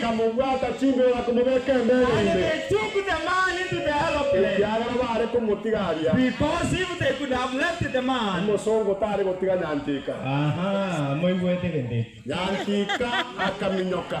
Bakamobwata chinguru komobeka embere ime, ekiagera baare komotiga aria, omosongo tare gotiga Nyantika. Nyantika akaminyoka.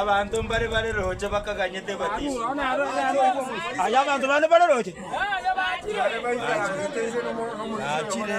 Abanto mbare bare roche bakaganyete batiswa. Naachire.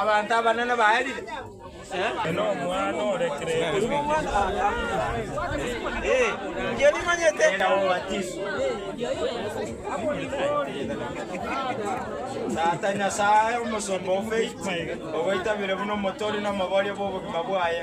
Abanto abanene baerire. Tata Nyasae, omosomba o faith, ogoitabire buna omotori na omoboria bw'obogima bwaye.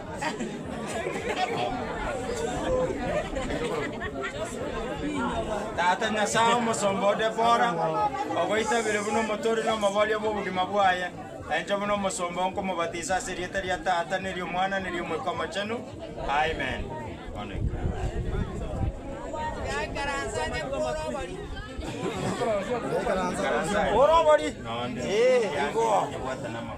Tata Nyasae, omosomba ode bora, ogoitabire buna omoturi na omobaria bw'obogima bwaye, na inche buna omosomba oo nkomobatisa ase erieta ria Tata, na eri'Omwana, na eri'Omoika Omochenu. Amen. Bono ikaransa. Ore obori? Nonde. Ee, igo. Yabwate namagoro.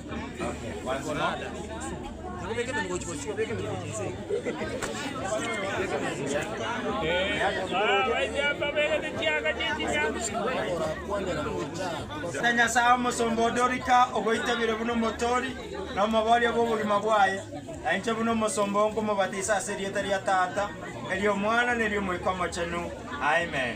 Ere Nyasae omosomba onde orika ogoitabire buna omotoori na omoboria bw'obogima bwaye, na inche buna omosomba oo nkomobatisa ase erieta ria Tata, na eri'Omwana, na eri'Omoika Omochenu. Amen.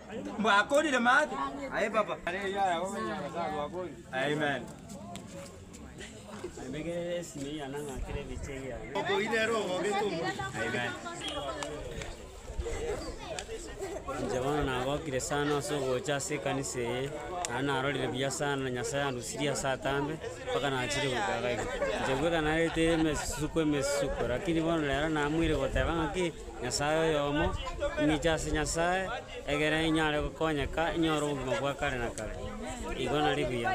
Mwakorire maate? Aye baba. Amen. Inche bono nagokire sana ase ogocha ase ekanisa eye, naende narorire buya sana Nyasae andusirie ase atambe, mpaka nachire goika iga iga. Inche bweka narete emesusuko emesusuko, lakini bono rero namoire goteba ng'aki. Nyasae oyomo, ing'eche ase Nyasae, egere inyare gokonyeka inyore obogima bwa kare na kare. Igo nari buya,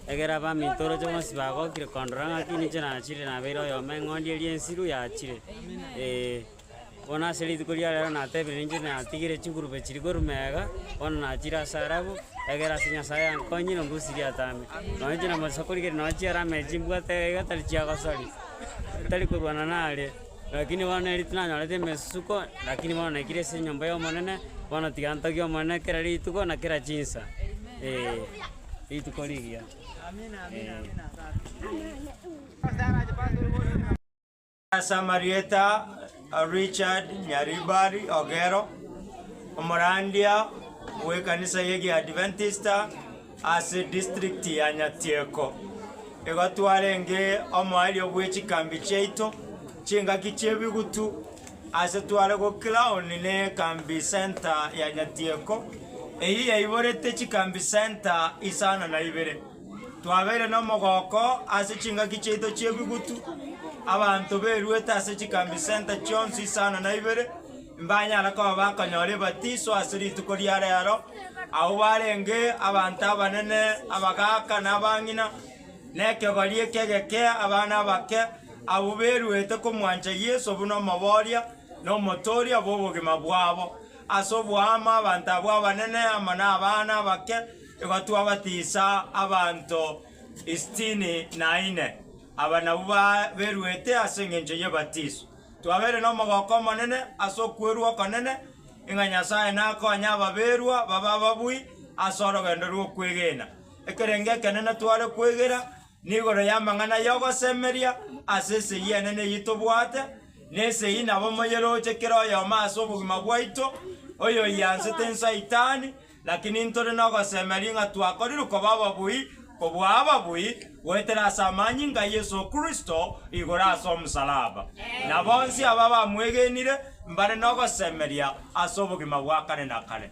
egere abaminto oroche bonsi bagokire kondora ng'aki ninche nachire nabeire oyomo eng'ondi eria ensiru yachire, ee, bono ase rituko ria reero natebire ninche natigire chigurube chiri korwa mega, bono nachire ase arabu, egere ase Nyasae yankonyire ongusirie atambe. Nonya inche na omosasi okorigereria nonya chiarama echi mbwate iga tari chiagosori, tari korwana nare. Rakini bono neri tinanyorete emesusuko, rakini bono naikire ase enyomba y'Omonene, bono tiga ntogie Omonene kera rituko na kera chinsa, ee, rituko rigiya, ee. Ase amarieta a Richard Nyaribari Ogero, omorandia bw'ekanisa y'egiadventista Ase distrikti ya Nyatieko igo twarenge omoerio bwe chikambi chiaito chingaki chi'ebigutu ase tware go Clown ne Kambi Centre ya Nyatieko eyio yaiborete chikambi centre isano na ibere. Twabeire nomogoko ase chingaki chiaito chi'ebigutu, abanto beruete ase chikambi centre chionsi isano na ibere, Mbanyare koba bakonyora ebatiso ase rituko ria reero, abwo barenge abanto abanene, abagaaka na abang'ina, na ekegori ekegeke, abana abake, abwo beruete komwancha Yeso buna omoboria na omotooria bw'obogima bwabo. Ase oboamo abanto abwo abanene amo na abana abake igo twabatisa abanto isitini na ine. Aba nabwo ba- beruete ase engencho y'ebatiso. Twabeire nomogooko omonene ase okwerua okonene ng'a Nyasae nakonye ababerwa babe ababui ase orogendo rw'okwegena. Ekerengo ekenene tware kwegera nigoro y'amang'ana y'ogosemeria ase esegi enene eyio tobwate, na esegi nabo moyeroche kera oyomo ase obogima bwaito, oyoiansete Saitani, Lakini ntore nogosemeria ng'a twakorirwe koba ababui kobua ababui goetera ase amanyinga a Yeso Kristo igoro ase omosalaba. Na bonsi aba bamwegenire mbare nogosemeria ase obogima bwa kare na kare.